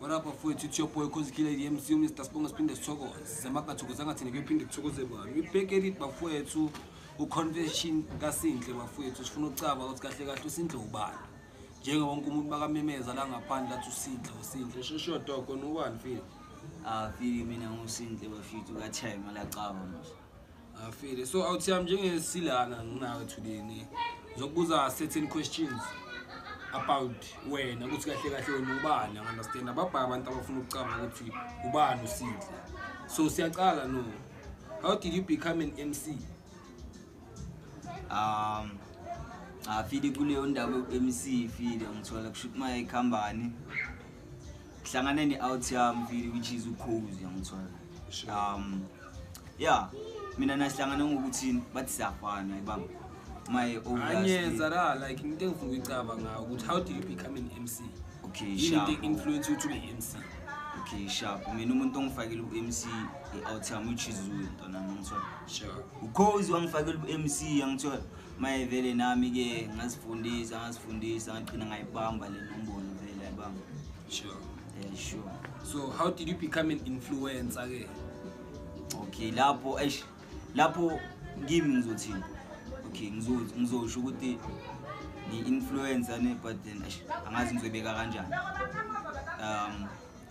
What up, bafowethu? It's your boy Khozi Killer, the MCU, Mr. Sibonga Siphinde Sithokoze. Semakathokozanga thina kuyophinde kuthokoze bani. Ibheke elithi bafowethu uconfession kaSinhle bafowethu sifuna ukucaba ukuthi kahle kahle uSinhle ubani. Njengoba wonke umuntu bakamemeza la ngaphandle athi uSinhle uSinhle. Shosho dog kona ubani fini? Ah, fili mina nguSinhle bafowethu ka-time la caba manje. afile so awuthiyam njengesilana nginawe today ne zokubuza certain questions about wena ukuthi kahle kahle wena ubani angunderstand ababhaka abantu abafuna ukucabanga ukuthi ubani usidle so siyaqala no how did you become an m c um afile kuleyo ndawo m c ifile ngithola kusho ukuthi uma ikhambani hlangane ne-out yami fili which is ucozy yangithwala um ya mina nasihlangane ngokuthini bathi siyafana ibamba my anyeza la like into engifuna ukuyicaba ngayo ukuthi how do you become an m c okay yini into influence ukuthi ube m c okay sharp mina umuntu ongifakile u-m c i-out yami which is uyo ntona ngangithwala sure ucozy wangifakile u-m c yangithwala maye vele nami ke ngasifundisa ngasifundisa ngagcina ngayibamba le nombolo vele ayibamba sure yeah sure so how did you become an influencer ke okay lapho eish lapho kimi ngizothini okay ngizosho ukuthi ngi-influencer ne but then eish angazi ngizoyibeka kanjani um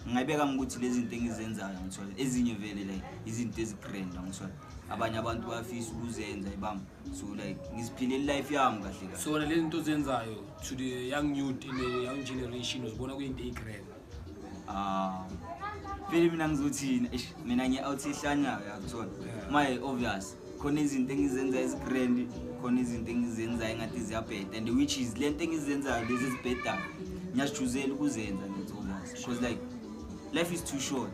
ngingayibeka ngokuthi lezi zinto engizenzayo ngithola ezinye vele like izinto ezigrand ngithola abanye abantu bafisa ukuzenza ibamba so like ngiziphile life yami kahle kahle sona lezi zinto zenzayo to the young youth in the young generation uzibona kuyinto eyigrand ah phela mina ngizothina eish mina ngi-out ihlanyayo yakuthola maye obvious khona izinto engizenza ezigrand khona izinto engizenzayo engathi ziyabheda and which is le nto engizenzayo lezi ezibhedayo ngiyazijuzela ukuzenza ngithi obvious because like life is too short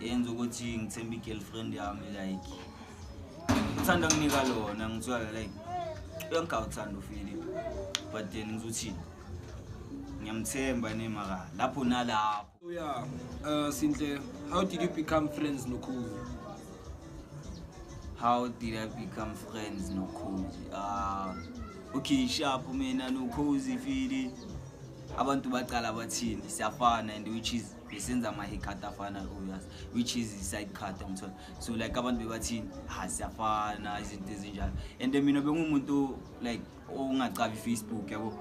yenza ukuthi ngithembe i-girlfriend yami like ngithanda nginika lona ngithiwa like uyangigawuthanda ufili but then ngizothini ngiyamthemba nemaka lapho nalapho ya uh, sinhle how did you become friends nokhuzi how did i become friends nokhuzi uh, okay sharp mina nokhuzi fili abantu baqala bathini siyafana and which is besenza ama-haircut afana uyazi which is i-side cut umthola so like abantu bebathini ha siyafana izinto ezinjalo and mina bengumuntu like ongacabi ifacebook yabo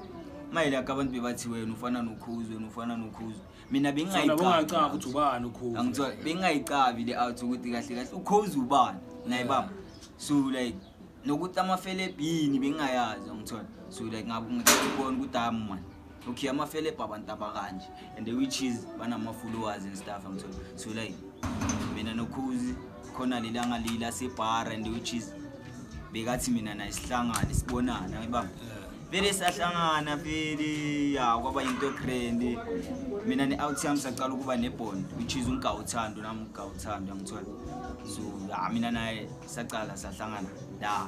manje like abantu bebathi wena ufana nokhuzwe wena ufana nokhuzwe mina bengingayicabi ukuthi ubani ukhuzwe angithola bengingayicabi le out ukuthi kahle kahle ukhuzwe ubani naye baba so like nokuthi amafelebhini bengingayazi angithola so like ngabona ukuthi hayi mani okay amafelebha abantu abakanje and which is banama-followers and stuff angithole so like mina nokhuzi khona lelanga lila sebhara and which is bekathi mina naye sihlangane sibonane ayibamba vele sahlangana vele ya kwaba yinto grand mina ne-out yami sacala ukuba nebond which is ungawuthando nami ungawuthando angithole so ya mina naye sacala sahlangana la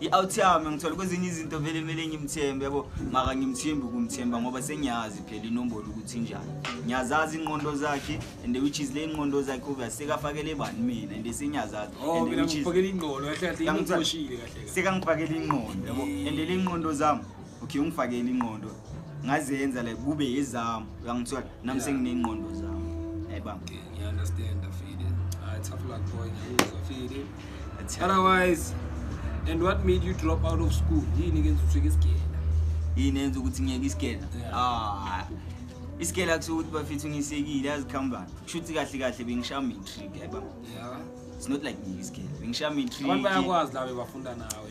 i-out yami ngithola kwezinye izinto vele kumele ngimthembe yabo maka ngimthembi ukumthemba ngoba sengiyazi phela inombolo ukuthi njani ngiyazazi iy'nqondo zakhe and which is le y'nqondo zakhe uve sekafakele bani mina and sengiyazazi Oh, And mina which is- ngifakela ingqono kahle kahle Yangithola. ingixoshile kahle kahle. sekangifakela ingqondo yabo and le y'nqondo zami okay ungifakele ingqondo ngazenza like kube yezami uyangithola nami senginey'ngqondo zami yayibam ngiyaunderstanda fide hayi tough luck boy ngiyakuzwa fide otherwise and what made you drop out of school yini kenza usuke isigela yini enza ukuthi ngiyeke isigela ah isigela kusuke ukuthi bafethu ngisekile azikhambani kusho ukuthi kahle kahle bengishaya matric yayibam it's not like ngiyeke isigela bengishaya matric abantu bayakwazi labo bafunda nawe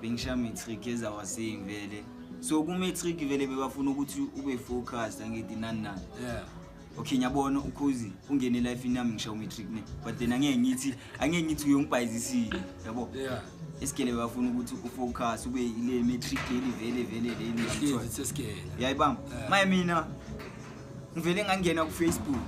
bengisha matric as i was saying vele so ku-matric vele bebafuna ukuthi ube focused angithi nani nani yeah okay ngiyabona ukhozi ungene elifini yami ngisha umatric ne but then angeke ngithi angeke ngithi uyongibhayizisile yabo yeah esigele bafuna ukuthi ufocus ube ile matric leli vele vele leli yayibamba maye mina ngivele ngangena kufacebook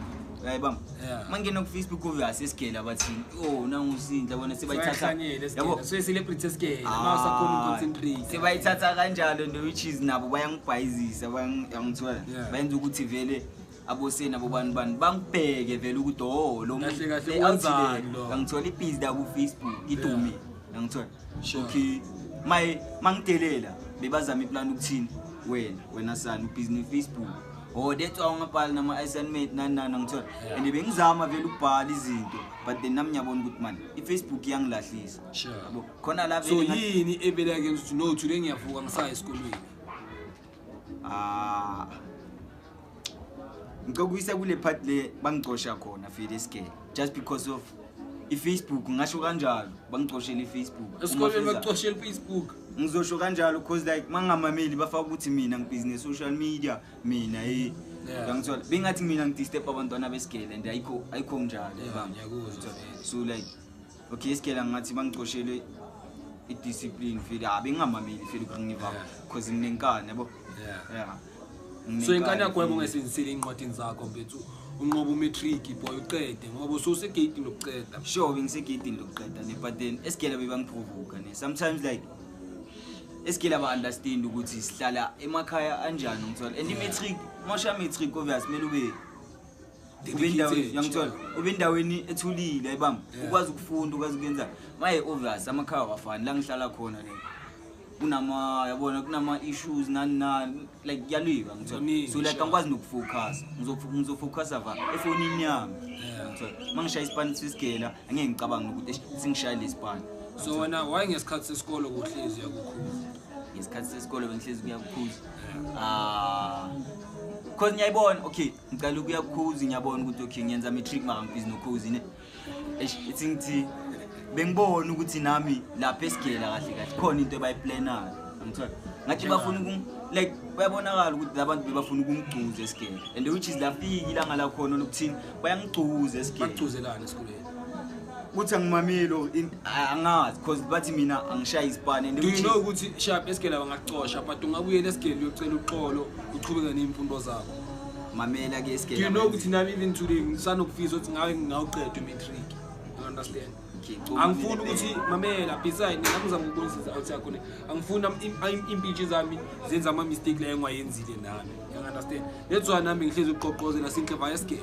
yayibamba Yeah. mangena kufacebook obvious esigele abathini o nangusinhle bona sebayithatha Sebayihlanyele yabo esigele. So i-celebrity esigele. Uma usakhona ukuconcentrate. sebayithatha kanjalo nto which is nabo bayangibhayizisa bayang- yangithola Yeah. bayenza ukuthi vele aboseni abo bani bani bangibheke vele ukuthi o lo Kahle, kahle, le-outlet, wenzani lo? yangithola ibhizi lakufacebook idume yangithola okay my mangidelela bebazama iplan ukuthini wena wena sani ubusiness facebook oh that's why ungabhali nama assignment nani nani angithola yeah. and bengizama vele ukubhala izinto but then nami ngiyabona ukuthi man ifacebook iyangilahlisa sure. khona la so yini ebele yake ukuthi no today ngiyavuka ngisaya esikolweni ah ngicokuyisa kule part le bangicosha khona file isikele just because of i-facebook ngasho kanjalo bangicoshela i-facebook esikoleni bakucoshela i-facebook ngizosho kanjalo because like mangamameli bafaka ukuthi mina ngibhizinesi social media mina e yangithola bengathi mina ngidisturb abantwana besigele and ayikho njalo so like okay isigela ngathi bangicoshele idiscipline feel ah bengamameli feel ukungiva because nginenkani yabo yeah yeah so inkani yakho yebo ngesinzile incwadini zakho mfethu unqoba umatric boy uqede ngoba usosegeyidini lokuqeda sure bengisegeyidini lokuqeda ne but then esigela bebangiprovoka ne sometimes like esigila ba-understand ukuthi sihlala emakhaya anjani ngithola and i-matric mosha matric obvious kumele ube yangithola ube endaweni ethulile ayibamba ukwazi ukufunda ukwazi ukuyenza maye obvious amakhaya wafani la ngihlala khona le kunama yabona kunama issues nani nani like yaliwa ngithola so like angikwazi nokufocus ngizofocus va efonini yami ngithola mangishaya ispan sisigela angeke ngicabanga ukuthi singishaya lespan so wena wayengesikhathi sesikolo kuhlezi yakukhuza ngesikhathi sesikolo bengihlezi kuyakukhuza Ah. Cause ngiyayibona okay ngicela ukuya kuKhozi ngiyabona ukuthi okay ngiyenza matric mara ngibhizi noKhozi ne. Eish ithi ngithi bengibona ukuthi nami lapha esigela kahle kahle khona into ebayiplanayo. Angithola. Ngathi bafuna ukum like bayabonakala ukuthi labantu bebafuna ukungigcuza esigela and which is lafika ilanga lakhona lokuthini bayangigcuza esigela. Bakucuzelana esikoleni. kuthi angimamile or in- a- angazi cause bathi mina angishaye izipani and do you which know is- ukuthi sharp esigele bangakucosha but ungabuyela esigele uyocela uxolo uqhubeke ney'mfundo zakho mamela ke do you know ukuthi nami even today ngisanokufisa ukuthi ngawe ngingawuqeda umatric you understand angifuni ukuthi mamela beside mina ngizama ukubonisa i-out yakho ne angifuni am- im- im- impintshi zami zenza ama-mistake la engiwayenzile nami you understand that's why nami ngihlezi ukuqoqozela sinhle vaya esigele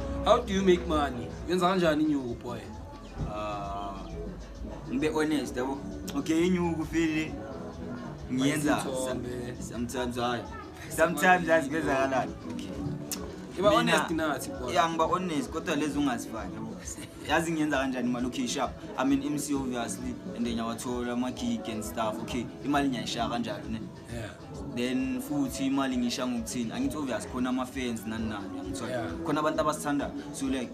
how do you make money yenza kanjani inyuku boy ah ngibe honest yabo okay inyuku feel ngiyenza sometimes hayi sometimes azibezakalani iba honest nathi boy yeah ngiba honest kodwa lezi ungazifaki yabo yazi ngiyenza kanjani imali okay sharp i mean mc obviously and then yawathola ama gig and stuff okay imali ngiyayishaya kanjalo ne yeah then futhi imali ngisha ngokuthini angithi obvious khona ama-fans nani nani yangithola yeah. khona abantu abasithandayo so like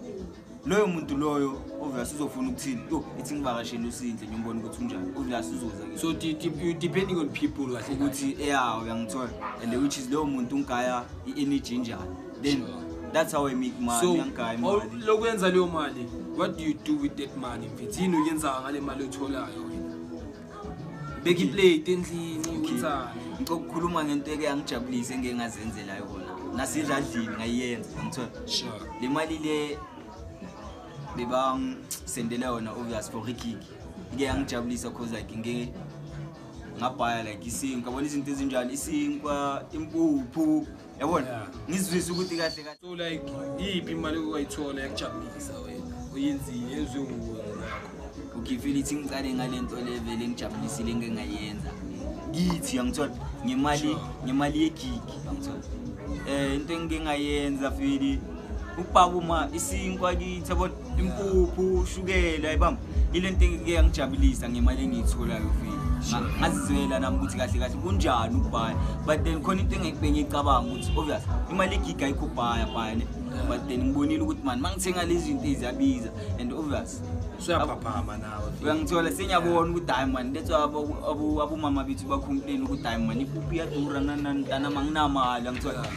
loyo muntu loyo obvious uzofuna ukuthini yo ithi ngivakashele usindle ngiyombona ukuthi unjani obvious uzoza so depending on people kahle ukuthi eyawo yangithola and which is loyo muntu ungigaya i-energy enjani then sure. that's how i make money so, yangigaya imali lokwenza leyo mali what do you do with that money mfethu yini uyenza ngale mali oyitholayo beka iplate endlini ngithani ngicela ukukhuluma ngento eke yangijabulisa engeke ngazenzela yona nasedladlini ngayiyenza ngithola sure le mali le bebangisendela yona obvious for ikiki ike yangijabulisa cause like ngeke ngabhaya like isinkwa yabona izinto ezinjalo isinkwa impuphu yabona ngizwise ukuthi kahle kahle so like iyiphi imali okwayithola yakujabulisa wena uyenzile yenziwe nguwe ngakho ugivile ithi ngicale ngale nto le vele ngijabulisile ngeke ngayenza kithi yangithola ngemali ngemali yegigi yangithola um into engike ngayenza fili ubaba uma isinkwa kithi yabona impuphu ushukela ayibamba ile nto engiyangijabulisa ngemali engiyitholayo vele ngazizwela nami ukuthi kahle kahle kunjani ukubhaya but then khona into engengicabanga ukuthi obvious imali egiga ayikho bhaya bhaya ne but then ngibonile ukuthi mani mangithenga lezi zinto eziyabiza and obvious suyaphaphama nawe uyangithola senyabona ukuthi hayi mani letho abomama bethu bacomplain ukuthi hayi mani ipuphu iyadura nanantanama nginamali angithola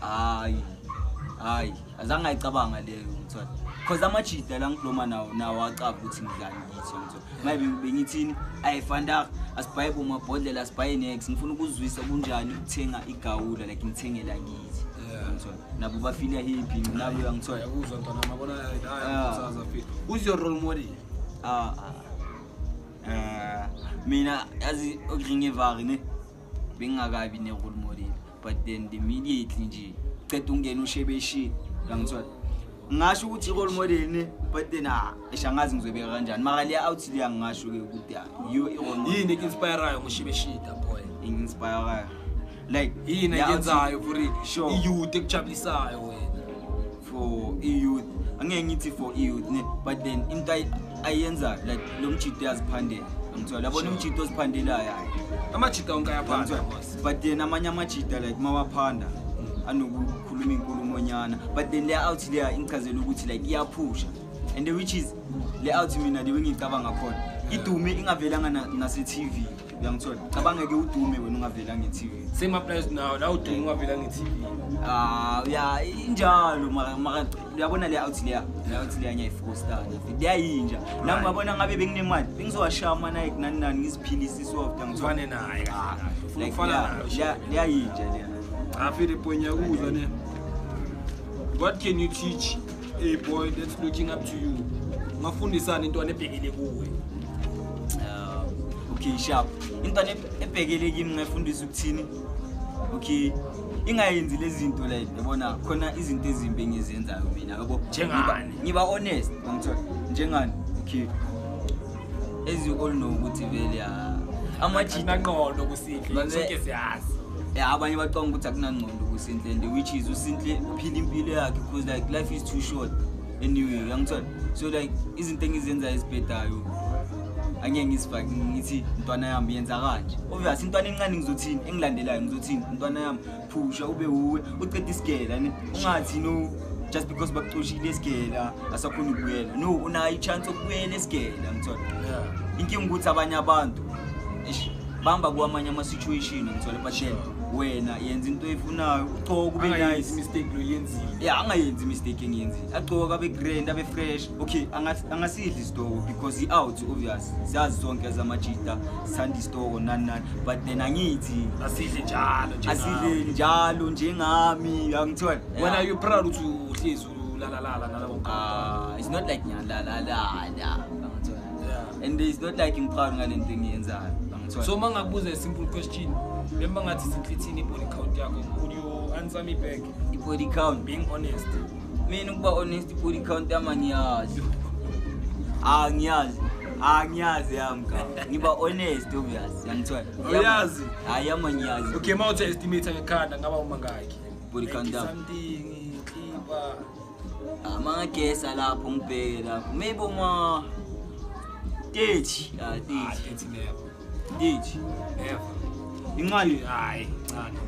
hayi hayi azange ayicabanga leyo ngithola cause amajida la ngibloma nawo nawo acaba ukuthi ngidlani ngitho ngitho maye bengithini ayifanda asibhaye bomabhodlela asibhaye nex ngifuna ukuzwisa kunjani ukuthenga igawula like ngithengela kithi ngithola nabo bafila happy nabo uyangithola yakuzwa ntwana mabona ayakuzaza fit who's your role model ah ah mina yazi okringe vare ne bengingakabi ne-role model but then immediately nje ceda ungena ushebeshile yangithola ngasho ukuthi i-role model ne but then ah, esha ngazi ngizobeka kanjani mara liya out liya ngingasho-ke ukuthi ah, yiyo i-role model yini eku-inspirayo ngoshebeshida boy engi-inspirayo like yini liya out- engenzayo for Sure. iyouth ekujabulisayo wena for e-youth angeke ngithi for e-youth ne but then into ayenza like lo mjito yaziphandela ngithiwa labona umjito oziphandelayo hayi amajita onke ayaphanda but then amanye amajita like mawaphanda anokukhuluma inkulumonyana but then le out le ingichazela ukuthi like iyaphusha and the which is le out mina le bengicabanga khona idume ingavelanga nase-tv uyangithola cabangeke udume wena ungavela nge-tv same applies now la udume ungavela nge-tv ah ya injalo mara uyabona le out leya le out leya ngiyayifosta leyayinja nami ngabona ngabe benginemali bengizowashaya amanike nani nani ngiziphilise isoft angifane naye ah, leyayinja leya afile ponya kuza ne what can you teach Hey boy, that's looking up to you. Ungafundisana into anebhekile kuwe. Ah, okay, sharp. Into anebhekile kimi ngayifundisa ukuthini? Okay. Ingayenzi lezi zinto like yabona khona izinto ezimbi engizenzayo mina yabo. Njengani? Ngiba honest, ngithola. Njengani? Okay. as you all know ukuthi vele ah, amajita anqondo kusinhle Babe- sonke siyazi Eh, abanye bacanga ukuthi akunangcondo kusinhle and which is usinhle uphila impilo yakhe because like life is too short anyway yangithola so like izinto engizenzayo ezibhedayo angeke ngizifake ngithi intwana yami yenza kanje obvious intwana encane ngizothini engilandelayo ngizothini intwana yami phusha ube uwe uceda isigela ne ungathi no just because bakucoshile esigela asakhona ukubuyela no unayo ichance okubuyela esigela ngithola inkinga ukuthi abanye abantu eish, bamba kwamanye ama-situation ngithola but then wena yenza into efunayo ugcoka ube nice mistake lo yenzile ya angayenzi imistake engiyenzile agcoka abe grand abe fresh okay angasidli isitoko because i-out obvious siyazi sonke zamajita sithanda isitoko nani nani but then angithi asidle njalo asidle njalo njengami angithole wena you proud ukuthi uhlezi ulalalala nalabo ah it's not like ngiyalalalala and it's not like ngiproud ngale nto engiyenzayo so uma ngakubuza a simple question lemba ngathi sinhlithini i-body count yakho would you answer me back i-body count being honest Mina ukuba honest body count yami angiyazi. Angiyazi. Angiyazi yami ka. Ngiba honest obvious. Yangithola. Awuyazi? Hayi yami angiyazi. Okay, uma uthe estimate ngekhanda ngaba uma ngakhi? Body count yami. Something klipa. Amagesa lapho ngibheke lapho. Maybe uma 30. Ah, 30 never. 30. Never. Incane hayi, ncane.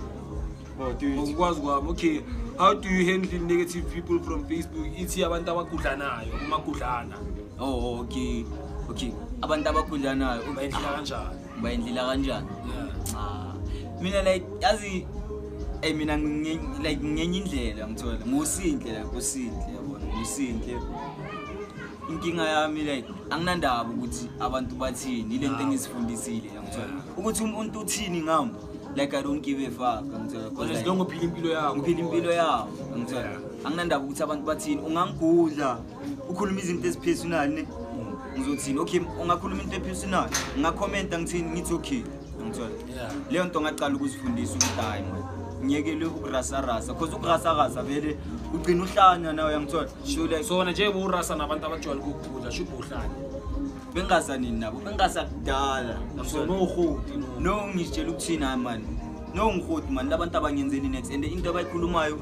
Oh, ngokwazi kwami okay how do you handle negative people from facebook ithi abantu abagudlanayo umagudlana oh okay okay abantu abagudlanayo bayindlela kanjani bayindlela kanjani ah, mina like yazi ey mina like ngenye indlela ngithola ngusinhle like usinhle yabona ngusinhle inkinga yami like anginandaba ukuthi abantu bathini ile nto engizifundisile yangithola ukuthi umuntu uthini ngami like i don't give a fuck angithola Cause like, Ngisilongo phila impilo yakho. ngiphila impilo yawo angithola anginandaba ukuthi abantu bathini ungangigudla ukhuluma izinto eziphesonali ngizothini okay ungakhuluma into ephesonali ngingakhomenta ngithini ngithi okay angithola Yeah. leyo nto ngaqala ukuzifundisa ukuthi hayi man ngiyekele ukurasarasa because ukurasarasa vele ugcina uhlanya nawe yangithola so like So wena njengoba urasa nabantu abajwayele ukugudla, shubha uhlanya. bengaza nini nabo bengaza kudala no ngizitshela ukuthini hayi mani no ngihoti mani labantu abangenzeli next and into abayikhulumayo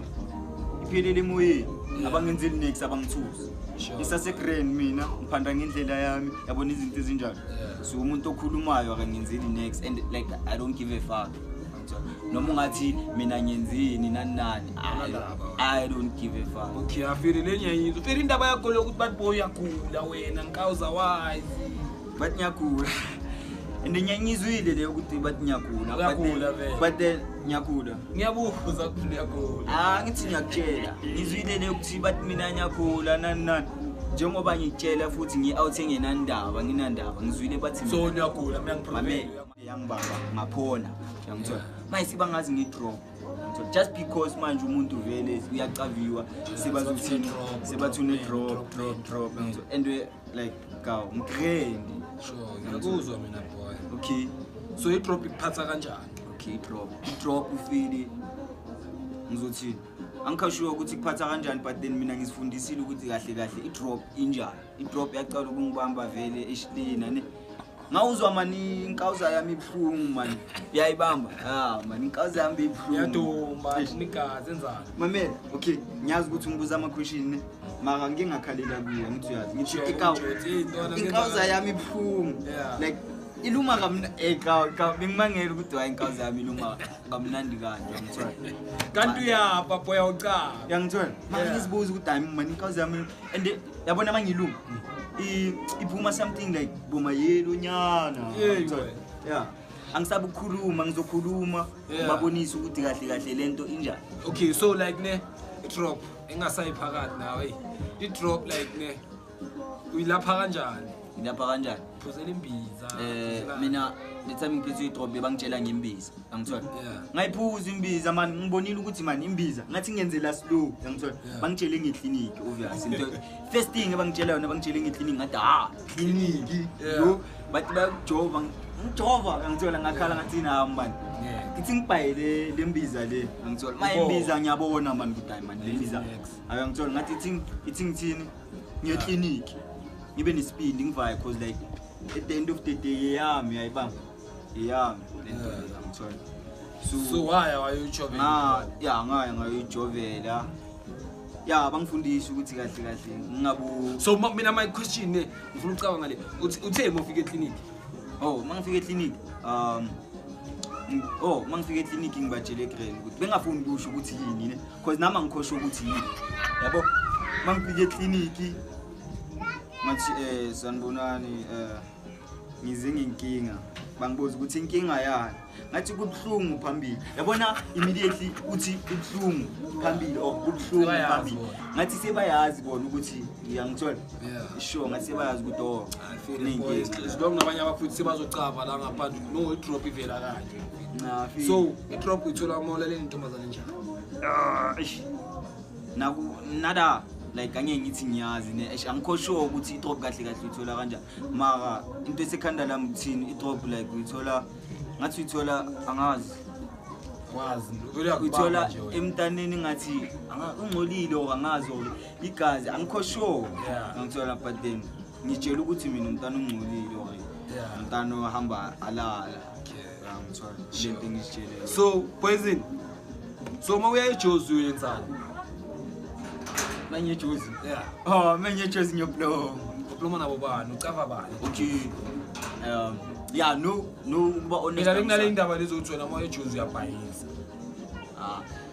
iphelele emoyeni abangenzeli next abangithusi ngisasegrand mina ngiphanda ngendlela yami yabona izinto ezinjalo so umuntu okhulumayo akangenzeli next and like i don't give a fuck noma ungathi mina ngenzini nani nani i don't give a fuck okay afiri lenye into firi indaba yakho lokuthi bathi boy uyagula wena ngikawuza wazi bathi ngiyagula and ngiyangizwile leyo ukuthi bathi ngiyagula uyagula vele but then ngiyagula ngiyabuza ukuthi uyagula ah ngithi ngiyakutshela ngizwile leyo ukuthi bathi mina ngiyagula nani nani njengoba ngitshela futhi ngi-out engenandaba nginandaba ngizwile bathi so ngiyagula mina ngiphumele yangibamba ngaphona yangithola manje siba ngazi ngidraw just because manje umuntu vele uyacaviwa sebazothini sebathi unedraw drop drop and we like gaw ngitrendi ngiyakuzwa mina boy okay so idrop ikuphatha kanjani okay idrop idrop ufili ngizothini angikhashiwe ukuthi kuphatha kanjani but then mina ngizifundisile ukuthi kahle kahle idrop injani idrop yaqala ukungibamba vele eshlina ne ngawuzwa mani inkawuza yami ibuhlungu mani uyayibamba ha mani inkawuza yami beyibuhlungumamela okay ngiyazi ukuthi ungibuza ama-question ne mara ngike ngakhalela kuyo ngithi uyazi ngithi inkawuza yami ibuhlungu like iluma eh, bengimangela ukuthi hayi inkawuza yami iluma kamnandi kanje ngithola kanti uyapha boya ucaba uyangithola mara ngizibuza ukuthi hayi mani inkawuza yami and yabona abanye ilungu iphuma something like bomayelo nyana yeah angisabe ukukhuluma ngizokhuluma babonise ukuthi kahle kahle le nto injani okay so like ne i-drop engasayiphakathi nawe i-drop like ne uyilapha kanjani ngilapha kanjani phuzela imbiza eh mina le time ngiphethe idrop bebangitshela ngimbiza angithola ngayiphuza imbiza mani ngibonile ukuthi mani imbiza ngathi ngenzela slow angithola bangitshele ngeclinic obvious into first thing ebangitshela yona bangitshele ngeclinic ngathi ha ah, clinic yo bathi bayakujova ngijova angithola ngakhala ngathi na mani ngithi ngibhayele le mbiza le angithola mayimbiza ngiyabona mani kudayi mani le mbiza ayo angithola ngathi ithi ngithini ngiye clinic ngibe nesibindi ngivaye cause like at the end of the day yeyami yayibamba yeyami le nto Yeah. lezi angithole so why awayujovela nga ya ngaya ngayojovela ya bangifundisha ukuthi kahle kahle ngingabu so ma- mina my question ne ngifuna ukucabanga le uthi uthe mofika eclinic oh mangifika eclinic um ngi- oh mangifika eclinic ngibatshele egrand ukuthi bengafuni kusho ukuthi yini ne cause nami angikhosha ukuthi yini yabo uma ngifike ekliniki ngathi um sanibonani um ngize nginkinga bangibuza ukuthi inkinga yani ngathi kubuhlungu phambili yabona immediately uthi kubuhlungu phambili or kubuhlungu phambili ngathi sebayazi bona ukuthi ngiyangithola sure ngathi sebayazi ukuthi o oh, kunenkinga abanye abafuthi sebazocava la ngaphandle no idrop ivela kanje so itrop uyithola umola leni ntombazane njani ah, naku nada like angeke ngithi ngiyazi ne eish angikho sure ukuthi itrop kahle kahle uyithola kanjani mara into esekhanda lami kuthini itrop like uyithola ngathi uyithola angazi uyithola emntaneni ngathi ungcolile or angazi or igazi angikho sure ngangithola but then ngitshela ukuthi mina umntana ungcolile or umntana ohamba alala lento engizitshelele so poison so uma uya ejozi uyenzani manyejozi yeah oh manyejozi ngiyoblowa ukhuluma nabo bani ucava bani okay um yeah no no uba honest mina benginale indaba lezo ukuthi wena uma ejozi uyabhayisa ah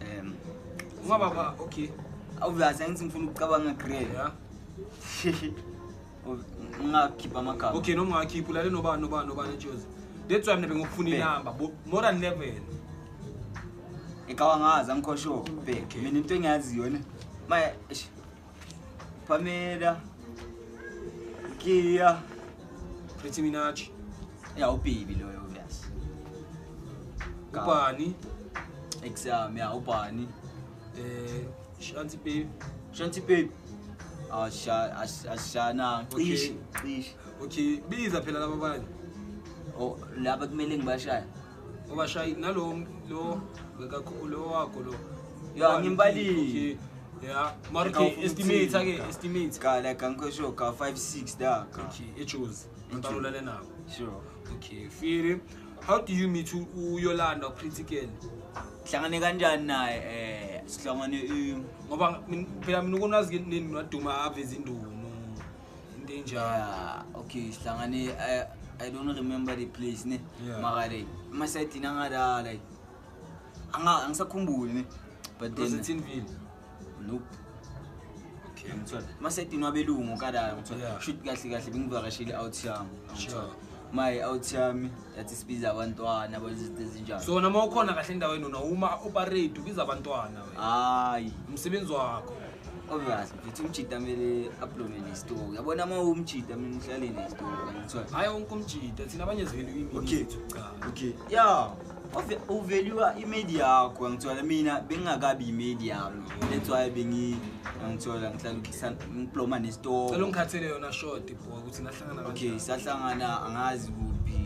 Um, ungababa okay obvious angithi ngifuna ukucabanga grey yeah ngingakhipha amagama okay noma ungakhipha ulale nobani nobani nobani ejozi that's why mina bengikufuna inamba more than level ikawangazi angikho sure bheke mina into engiyaziyo ne maye Pamela, Gia, Pretty Minaj. Ya ubaby loyo yes. Ubani. Exam ya ubani. Eh Shanti baby. Shanti baby. Asha ashana cishe cishe. Okay, biza phela laba bani. Oh laba kumele ngibashaya. ngoba shayi nalowo lo bekakho lo wakho lo ya ngimbalile ya marke estimate ke estimate ka like anko sho ka 56 da ka okay echozi ngibalula lena sure okay feel how do you meet uyolanda critical hlangane kanjani naye eh sihlangane ngoba phela mina ukonazi nini nwaduma aveza indumo into enja okay sihlangane eh, i don't remember the place ne yeah. mara like emasayidini angada like angisakhumbuli ne but theninville nope masayidini wabelungu kadayo shuthi kahle kahle bengivakashile out yami my out yami yathi sibiza abantwana benza izinto ezinjani so noma ukhona kahle endaweni wena uma operate ubiza abantwana wena hayi umsebenzi wakho obvious mfethu umjita kumele ablome nesitoki yabona uma uwumjita mina ngihlale nesitoki angithiwa hhayi wonke umjita thina abanye zivele uyimini Okay. yethu cha okay ya ove- uvelua imedi yakho angithola mina bengingakabi yimedi yami that's why bengi angithola ngihlala ukisa- ngiploma nesitoki cela ungikhathele yona short bro ukuthi nahlangana okay sahlangana angazi kuphi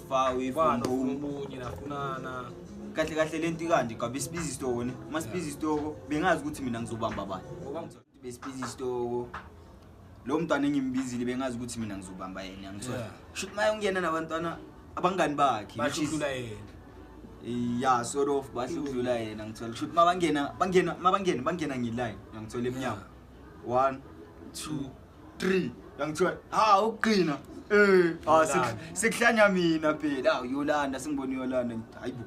far away from home omunye nafunana kahle kahle lento ikanje gabe sibiza isitoko ne uma sibiza isitoko bengazi ukuthi mina ngizobamba abanye besibiza isitoko lo mntwana engimbizile bengazi ukuthi mina ngizobamba yena ngithola shuthi uma ungena nabantwana abangani bakhe bashudlula yena ya sort of bahludlula yena ngithola shuthi mabangena bangena mabangena bangena ngiline ngithola emnyango 1 2 3 yangithiwa ha ukuqina eh ha sikuhlanya mina phela awu yolanda singibona yolanda hayibo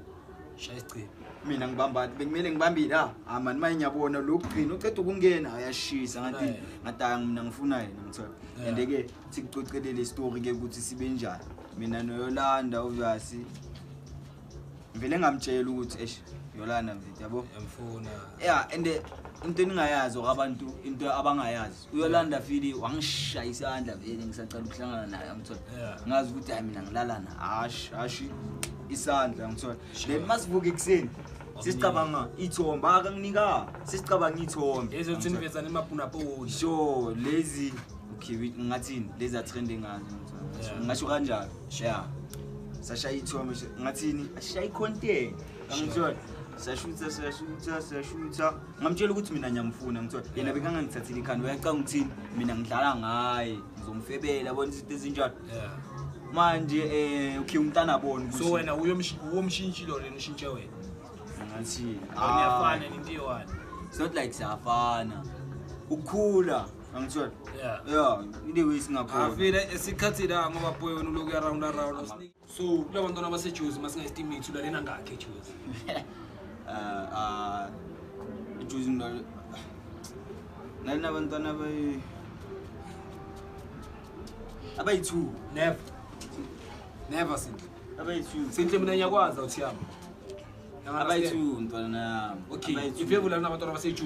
shaya isicelo mina ngibamba bekumele ngibambile ha ah, mani maye ngiyabona lo kuqina uceda ukungena ayashisa ngathi ngadaya mina ngifuna yena ngithiwa and ke sikucocelele istory ke ukuthi sibe njani mina noyolanda obviously ngivele ngamtshela ukuthi eish yolanda mfethu yabo yamfuna yeah and into eningayazi or abantu into abangayazi uyolanda fili wangishaya isandla vele ngisacela ukuhlangana naye angithola ngazi ukuthi hayi mina ngilalana hashi hashi isandla ngithola then masivuka ekuseni sisicabanga ithomba akanginika sisicabanga ithomba ezothini vezana emabhuna poli sho lezi okay ngathini lezi atrende ngazo ngasho kanjalo ya sashaya ithomba ngathini ashaya icontent angithola sashutha sashutha sashutha ngamtshela ukuthi mina ngiyamfuna ngithiwa yena bekangangithathile ikhanda uyacanga ukuthini mina ngidlala ngaye ngizomfebela abona izinto ezinjalo manje um ukhiya umntana abona so wena uwomshintshi lo lena ushintshe wena ngathi niyafana ninto iyiwani it's not like siyafana ukukhula angithiwa ya into eyisingakhona afile esikhathini a ngoba boyona uloku yarawunda rawunda so kulaba ntwana abasejuzi uma singayistima ithu lalena ngakhe juzi ijuzi nalina abantwana abayi-two never never sinto sinhle mina ngiyakwazi awuthiyama abayi-two ntwana yami okay if ever lana abantwana abaseju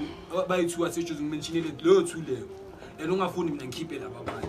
bayi-two asejuzi ngimenshine le leyo two leyo and ungafuni mina ngikhiphe laba abanye